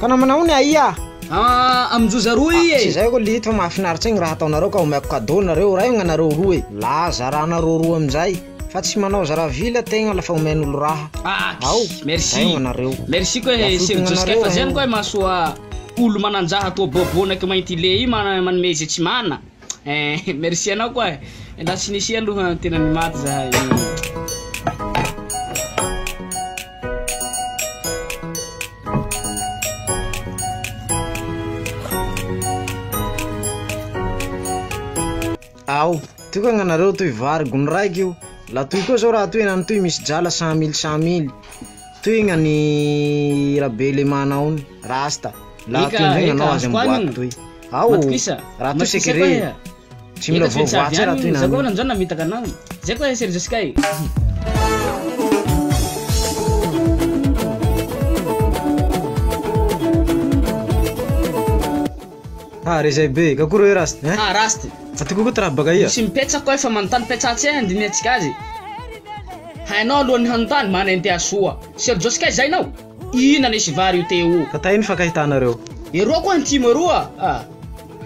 Ka namanao ny aia? Ah, aminjoza roa i e! Tsy zay ko lito fa mahafinaritra igny raha ataonareo ka omeko cadeau nareo ray gnanareo roa e! La zaranareo roa amizay fa tsy manao zara vila tegna lafa omen'olo raha. Aky! Ao, merci! Zay gnanareo. Merci koa e Sir Josy kay fa zay any koa mahasoa olo mananjaha toa bobo naky mainty le i manome ze tsy mana. Eh, merci anao koa eh. Ndra tsy nisy aloha tena ny maty zahay. Ao, toy koa gnanareo toy vary gony raiky io, la toy koa zao raha toy henany toy misy drala cent mille cent mille. Tohigna ny rabe le manao ny rasta. Raha Eka, tohigna eka, anao azy azoko amboaty anina. toy. Ao, Matokisa, raha toy matokisa sekere. koa e. Tsy mila Eka tsy maintsy avy voavoatsy raha toy any, za koa nany. amin'izao namitaka anao. Zay koa e Serge Sky. Ah rezay be ka koa reo Rasty hein. Ah Rasty. Aty koa koa ty raha baka ia. Misy mipetsaka hoe fa manontany petsà tsy hay handinihantsika azy. Hainao alohan'ny hanontany, manenteha soa. Sergio sy Kay zay nao? Inona nisy vary io Téo? Ka taia ny fankahitanareo? Eroa koa ny tim eroa ah.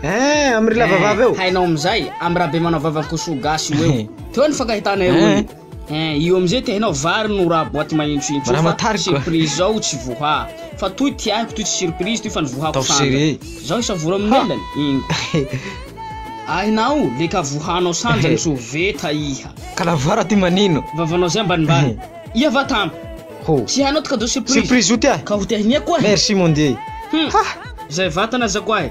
Eeh am ry lava vava eo. Eeh hainao amizay am rabe manao vavan kosoa gasy io eo. Teo ny fankahitana eroa io. Hein, io amizay te hainao vary no raha boaty mahentsohentso io fa surprise zao tsy voha fa toy ty aiko toy tsy surprise toy fa ny vohako sanja zao isavoro amin'ny lelany ingo Ahinao le ka vohanao sanjany tsy ho veta iha. Kalavara ty manino. Vavanao zay ambanimbany. Iha va tam. Ho. Tsy hainao ty cadeau surprise. Surprise io ty ahy. Ka ho te hinia koa ahy. Merci mon Dieu. Hmm. Ha! Zay vatana za koa ahy.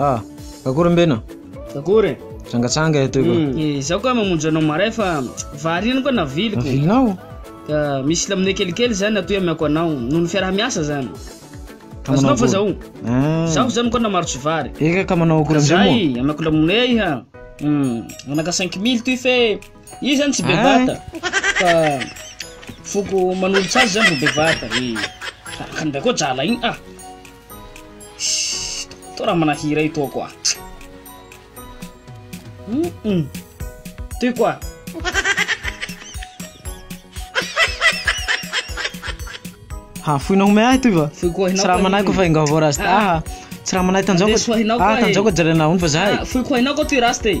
Ah, akory mbena? Akory? Trangatsanga eto iko. Hmm, eh, izaho ka mamonjy anao maray fa vary iny koa naviliko. Navilinao? Ka misy lamine kelikely zany atoy amiako anao, noho ny fiaraha-miasa zany. Azonao fa zao. Ah. Zaho zany koa namaro tsy vary. Eka ka manao akory amizay moa? Zay, amiako lamine iha. Hmm, manaka 5000 toy fe Io zany tsy bevata fa foko manolotra azy zany ro bevata e tahaka an'ilay koa jala iny ah to raha manahira ito koa mm toy koa ha foina homey ahy toy va foy koa hinao tsy raha manahy ko fa enga vao rasta ah tsy raha manahy tanjao ko ah tanjao ko jerena hony fa zahay foy koa hinao ko toy rasta e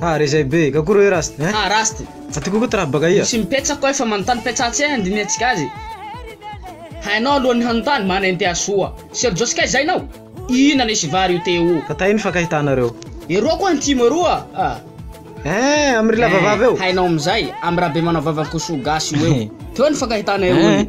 Ah re zay be, ka koa re Rasty hein. Ah Rasty. Aty koa koa ty rap baka ia. Misy mipetsa koa efa manontany Petsa atsy eh andinihantsika azy Hainao alohan'ny hanontany manenty ahy soa Serjosy kay zay nao Inona nisy vary io Téo. Fa taia ny fankahitanareo. Eroa koa antimo eroa ah. Eeh am ry lava vava eo. Hainao amizay am rabe manao vavan kosoa gasy io eo Téo ny fankahitana eroa ny.